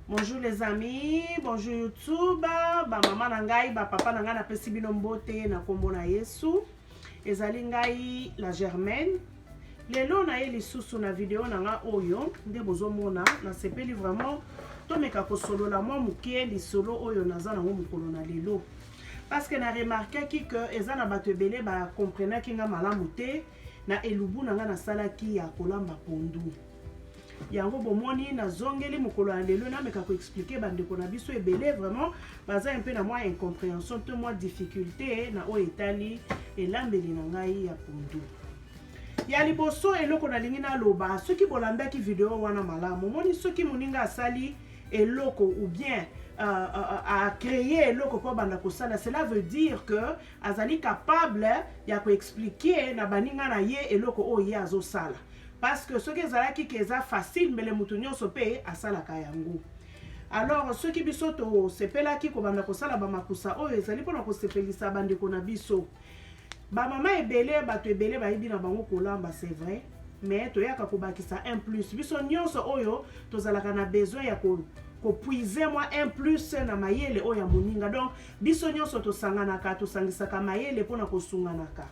Bonjour les amis, bonjour YouTube, ba mama na ngai, ba papa na ngai napesi bino mbote na kombo na Yesu. Ezali ngai la Germaine. Lelo na ye lisusu na video na ngai oyo nde bozomona nasepeli vraiment tomeka kosolola mwa moke lisolo oyo naza nango mokolo na lelo parce que na remarkaki que eza na bato ebele bacomprenaki ngai malamu te na elubu na ngai nasalaki ya kolamba pondu yango bomoni nazongeli mokolo ya lelo nameka koexplike bandeko na biso ebele vraiment baza mpe na mwa incomprehension to mwa difficulté na oyo etali elambeli na ngai ya pondu ya liboso eloko nalingi naloba soki bolandaki video wana malamu omoni soki moninga asali eloko ou bien acreye euh, euh, euh, eloko mpo abanda kosala cela veut dire que azali capable ya ko expliquer na baninga na ye eloko oyo ye azosala parce que soki ezalaki ke eza facile mbele moto nyonso mpe asalaka yango alors soki biso tosepelaki kobanda kosala bamakusa oyo ezali mpona kosepelisa bandeko na biso bamama ebele bato ebele bayebi na bango kolamba c'est vrai mais toyaka kobakisa un plus biso nyonso oyo tozalaka na besoin ya ko kopuize mwa un plus na mayele oyo ya moninga donc Biso nyonso tosanganaka, tosangisaka mayele mpo na kosunganaka.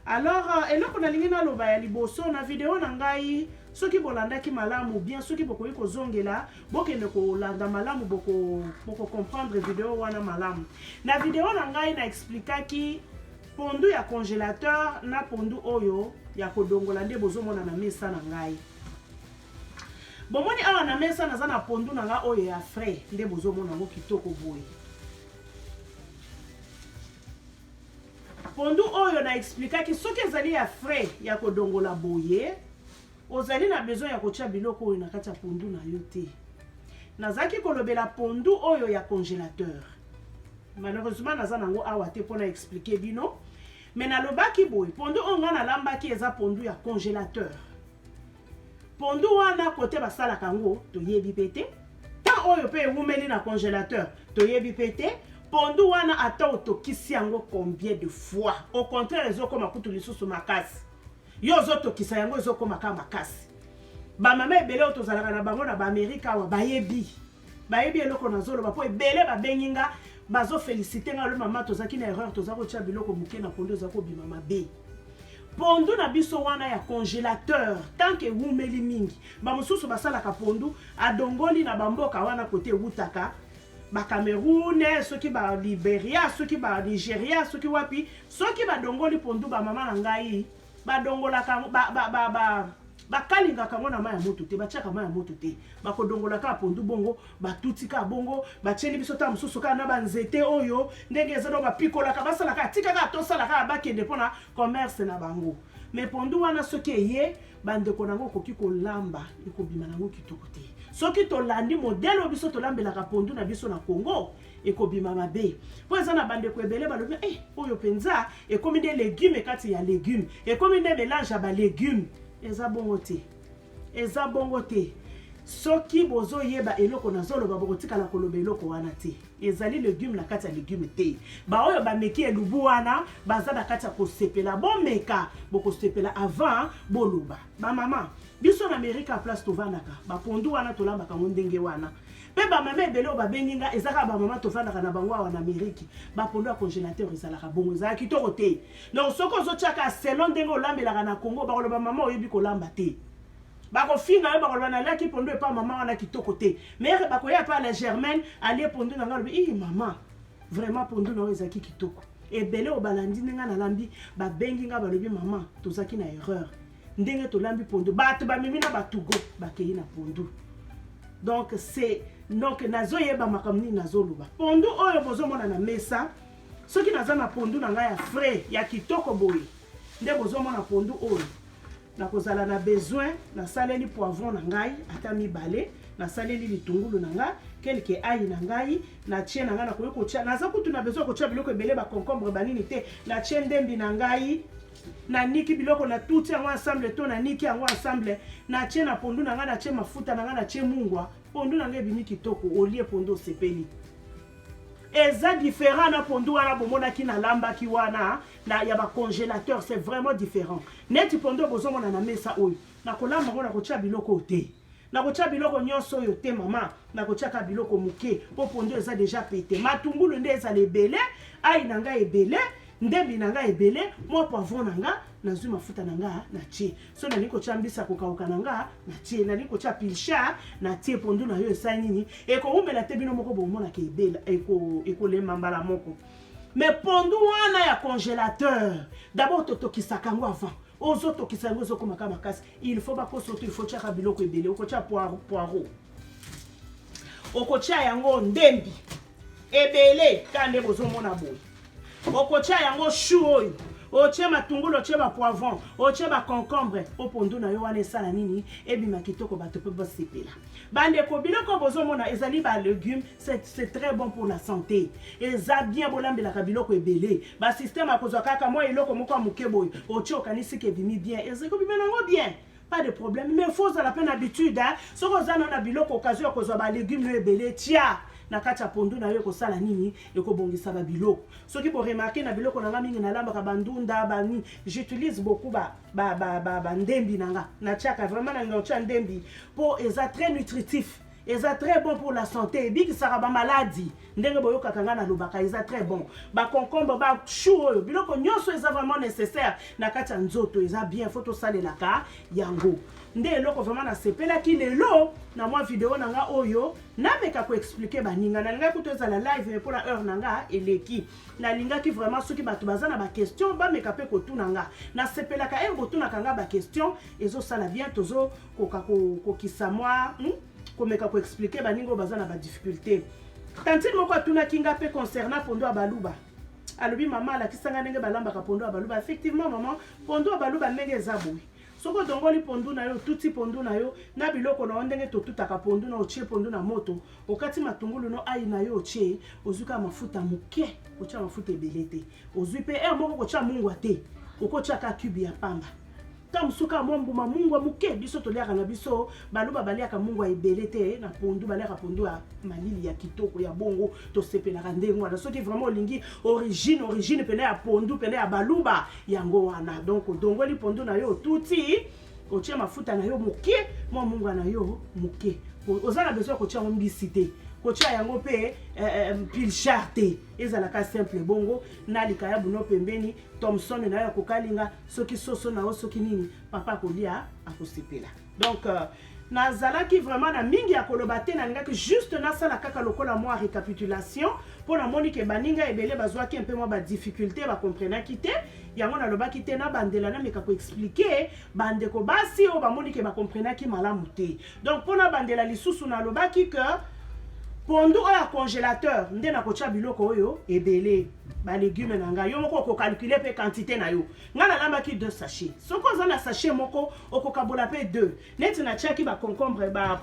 Alors, euh, eloko nalingi naloba ya liboso na video na ngai, soki bolandaki malamu bien, soki bokoki kozongela, bokende kolanda malamu, boko, boko comprendre video wana malamu. Na video na ngai na explikaki pondu ya congelateur na pondu oyo ya kodongola nde bozomona na mesa na ngai. Bomoni awa na mesa naza na pondu na nga oyo ya frais nde bozomona yango kitoko boye. Pondu oyo na explikaki soki ezali ya frais ya kodongola boye ozali na besoin ya kotya biloko oyo na kati ya pondu na yo te. Nazalaki kolobela pondu oyo ya congelateur. Malheureusement naza nango awa te mpo na explike bino me nalobaki boye pondu oyo ngai nalambaki eza pondu ya congelateur Pondu wana kote basalaka yango toyebi pe te. Temps oyo pe ewumeli na congelateur toyebi pe te. Pondu wana ata otokisi yango combien de fois, au contraire ezokoma kutu lisusu makasi. Yo ozotokisa yango ezokoma kaka makasi. Ba mama ebele oyo tozalaka na bango na ba Amerika awa bayebi. bayebi eloko nazoloba mpo ebele babengi nga bazofelisite nga lo mama tozalaki na erreur toza kotya biloko moke na pondu eza kobima mabe pondu na biso wana ya congélateur tant que ewumeli mingi bamosusu basalaka pondu adongoli na bamboka wana kote ewutaka bacameroun soki baliberia soki banigeria soki wapi soki badongoli pondu bamama na ngai badongolaka yango ba, ba, ba, ba, bakalingaka yango na mai ya moto te batiaka mai ya moto te bakodongola kaka pondu bongo batuti kaka bongo batieli biso ntango mosusu kaka na banzete oyo ndenge eza no bapikolaka basalaka atika kaka tosala kaka bakende mpo na commerce na bango me pondu wana soki eye bandeko na yango okoki kolamba ekobima na yango kitoko te soki tolandi modele oyo biso tolambelaka pondu na biso na congo ekobima mabe mpo eza na bandeko ebele balobi eh, oyo mpenza ekomi nde legume kati ya legume ekomi nde melange ya balegume eza bongo te eza bongo te soki bozoyeba eloko nazoloba bokotikala koloba eloko wana te ezali legume na kati ya legume te baoyo bameki elubu wana baza na kati ya kosepela bomeka bokosepela avant boloba bamama biso na amerika place tovandaka bapondu wana tolambaka yango ndenge wana Pe ba mama ebele oyo babengi nga eza kaka ba mama tofandaka na bango awa na Ameriki. Ba pondu ya congelateur ezalaka bongo, ezalaka kitoko te. Donc soki ozotia kaka selon ndenge olambelaka na Congo, bakoloba mama oyebi kolamba te. Bakofinga yo bakoloba naliaki pondu epa mama wana kitoko te. Mere bakoya epa la Germaine alie pondu na nga alobi ii mama vraiment pondu na yo ezalaki kitoko. Ebele oyo balandi nde nga nalambi babengi nga balobi mama tozalaki na erreur. ndenge tolambi pondu bato bamemi na batugo bakei na pondu donc c'est donc nazoyeba makambo nini nazoloba pondu oyo bozomona na mesa soki naza na pondu na ngai ya frais ya kitoko boye nde bozomona pondu oyo nakozala na besoin nasaleli poivron na ngai ata mibale nasaleli litungulu na ngai kelke ai na ngai natie na ngai nakoki kotya naza kutu na besoin ya kotya biloko ebele baconcombre banini te natie ndembi na ngai naniki biloko natuti yango ensemble to naniki yango ensemble natie na pondu na ngai natie mafuta na ngai natie mungwa pondu na ngai ebimi kitoko olie pondu osepeli eza différent na pondu wana bomonaki nalambaki wana na ya bacongélateur c'est vraiment différent neti pondu bozomona na mesa oyo nakolamba yango nakotia biloko oyo te Nakotya biloko nyonso oyo te mama, nakotya kaka biloko moke mpo pondu eza deja pete. Matungulu nde ezala ebele, ai na ngai ebele, ndembi na ngai ebele, mwa poivron na ngai, nazwi mafuta na ngai natie. So nalingi kotya mbisi ya kokauka na ngai natie, nalingi kotya pilchard natie. Pondu na yo esali nini? Ekoumela te, bino moko bomonaka ebela, ekolema mbala moko. Mais pondu wana ya congelateur, d'abord totokisaka yango avant ozo tokisa yango ezo koma ka makasi il faut ba koso to il faut tiaka biloko ebele okotia poireau poireau okotia yango ndembi ebele ka nde bozo mona boye okotia yango chou oyo otie matungulu otie bapoivron otie baconcombre o pondu na yo wana esala nini ebima kitoko bato mpe basepela bandeko biloko bozomona ezali balegume C'est très bon pour la santé. Eza bien bolambelaka biloko ebele. Ba système akozwa kaka mwa eloko moko ya moke boye. Otie okanisi ke bimi bien. Eza ko bimela ngo bien. Pas de problème. Mais faut zala pe na habitude hein. Soki oza na biloko occasion kozwa ba légumes ebele tia na kati ya pondu na yo ekosala nini ekobongisa ba biloko soki bo remarquer na biloko na nga mingi nalambaka bandunda bani j'utilise beaucoup ba ba ba ba, ba ndembi na nga natiaka vraiment na nga otia ndembi po eza très nutritif eza très bon pour la santé ebikisaka bamaladi ndenge boyokaka ngai nalobaka eza très bon baconcombre bachou oyo biloko nyonso eza vraiment nécessaire na kati ya nzoto eza bien fo tosalelaka yango nde eloko vraiment nasepelaki lelo na mwa video na ngai oyo nameka koexplike baninga nalingaki kutu ezala live me mpona heure na nga eleki nalingaki vraiment soki bato baza na baquestion bameka mpe kotuna nga nasepelaka ere botunaka nga baquestion ezosala bien tozo koka kokokisa mwa hmm? komeka koexplike baninga oyo baza na badifficulté tantine moko atunaki nga mpe concernant pondo ya baluba alobi mama alakisa nga ndenge balambaka pondo ya baluba effectivement mama pondo ya baluba ndenge eza boye soki odongoli pondu na yo otuti pondu na yo na biloko na yo ndenge totutaka pondu na otie pondu na moto okati matungulu no ai na yo otie ozwi kaka mafuta moke otya mafuta ebele te ozwi mpe ere eh, moko kotya mungwa te okotyaka cube ya pamba ntango mosusu kaka mwa mbuma mungwa moke biso toliaka na biso baluba baliaka mungwa ebele te na pondu baliaka pondu ya malili ya kitoko ya bongo tosepelaka ndenge wana soki vraiment olingi origine origine mpena ya pondu mpena ya baluba yango wana donc odongoli pondu na yo otuti otie mafuta na yo moke mwa mungwa na yo moke oza na besoin ya kotia yango mbisi te kotia yango mpe eh, eh, pilchar te ezalaka simple bongo na likayabu no pembeni Thomson nayo akokalinga soki soso na yo soki nini papa akolia akosepela donc euh, nazalaki vraiment na mingi ya koloba te nalingaki juste nasala kaka lokola mwa récapitulation mpo namoni ke baninga ebele bazwaki mpe mwa badifficulté bakomprenaki te yango nalobaki te nabandela nameka koexplike bandeko basi oyo bamoni ke bakomprenaki malamu te Donc mpo nabandela lisusu nalobaki que pondu oyo ya congélateur nde nakotya biloko oyo ebele balegume na ngai yo moko okocalcule mpe quantité na yo ngai nalambaki 2 sachet soki oza na sachet moko okokabola mpe 2 neti natyaki baconcombre ba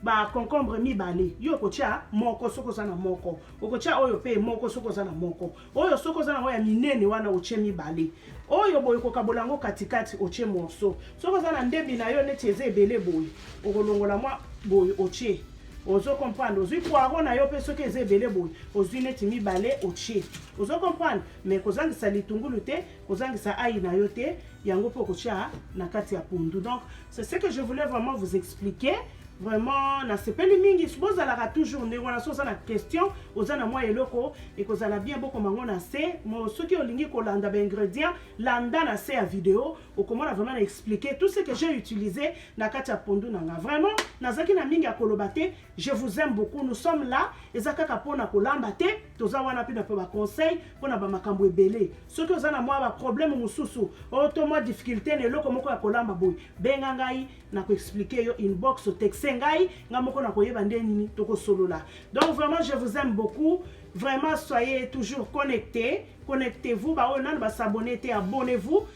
baconcombre mibale yo okotya moko soki oza na moko okotya oyo mpe moko soki oza na moko oyo soki oza nango ya minene wana otie mibale oyo boye kokabola yango katikati otie morso soki oza na ndebi na yo neti eza ebele boye okolongola mwa boye otie ozo comprendre ozwi poiro na yo mpe soki eza ebele boye ozwi neti mibale otie ozo comprendre mais kozangisa litungulu te kozangisa ayi na yo te yango mpe okotya na kati ya pondu donc C'est ce que je voulais vraiment vous expliquer. Vraiment, na sepeli mingi bozalaka toujours ndenge wana so oza na question oza na mwa eloko ekozala bien bokoma yango na se mo soki olingi kolanda baingrédient landa na se ya video okomona vraiment na expliquer tout ce que j'ai utilisé na kati ya pondu na nga vraiment nazalaki na mingi ya koloba te Je vous aime beaucoup, nous sommes là. Eza kaka pona kolamba te, toza wana pe na pe ba conseil pona ba makambo ebele. Soki oza na mwa ba problème mususu, o to mwa difficulté na eloko moko ya kolamba boy, benga ngai na ko expliquer yo inbox texte ngai, nga moko na koyeba nde nini toko solola. Donc vraiment je vous aime beaucoup. Vraiment soyez toujours connectés, connectez-vous, ba oyo nanu ba s'abonner te, abonnez-vous.